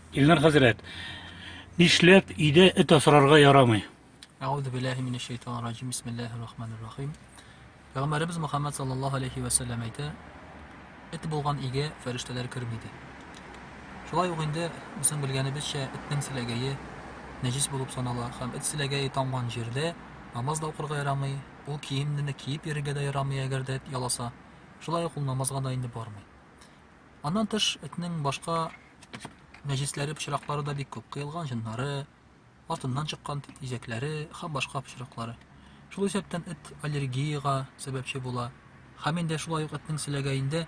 Илнар хәзрәт, нишләп өйдә эт асрарга ярамый? Әгъүзу биллаһи минәш шайтанир раҗим. Бисмиллаһир рахманир рахим. Пәйгамбәребез Мөхәммәд саллаллаһу алейхи ва саллям әйтә, эт булган өйгә фәрештәләр керми ди. Шулай ук инде үзен белгәнебезчә, этнең силәгәе нәҗис булып санала һәм эт силәгәе тамган җирдә намаз да укырга ярамый, Ул киемнене киеп йөрергә дә ярамый, әгәр дә эт яласа. Шулай ук ул намазга да инде бармый. Аннан тыш, этнең башка нәҗисләре, пычраклары да бик күп. Кыелган җыннары, артыннан чыккан тизәкләре һәм башка пычраклары. Шул исәптән эт аллергиягә сәбәпче була. Һәм инде шулай ук этнең селәгәендә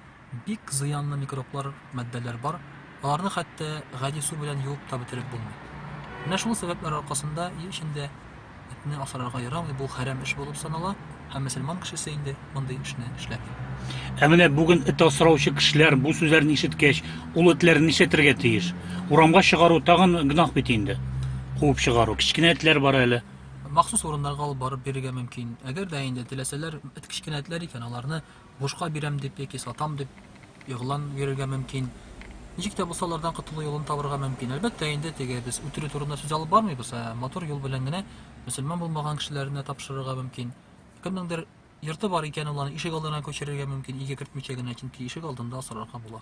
бик зыянлы микроблар, матдәләр бар, аларны хәтта гади су белән юып та бетереп булмый. Менә шул сәбәпләр аркасында өй эчендә этне асрарга ярамый, бу хәрәм эш булып санала, һәм мөселман кешесе инде мондый эшне эшләми. Ә менә бүген эт асраучы кешеләр бу сүзләрне ишеткәч, ул этләрне нишләтергә тиеш? Урамга чыгару тагын гөнаһ бит инде. Куып чыгару. Кечкенә этләр бар әле. махсус урыннарга алып барып бирергә мөмкин. Әгәр дә инде теләсәләр, эт кечкенә этләр икән, аларны бушка бирәм дип яки сатам дип игълан бирергә мөмкин. Ничек тә булса алардан котылу юлын табырга мөмкин. Әлбәттә инде теге без үтерү турында сүз алып бармыйбыз, ә матур юл белән генә мөселман булмаган кешеләренә тапшырырга мөмкин. Кемнеңдер йорты бар икән, ул аны ишек алдына күчерергә мөмкин, өйгә кертмичә генә, чөнки ишек алдында асрарга була.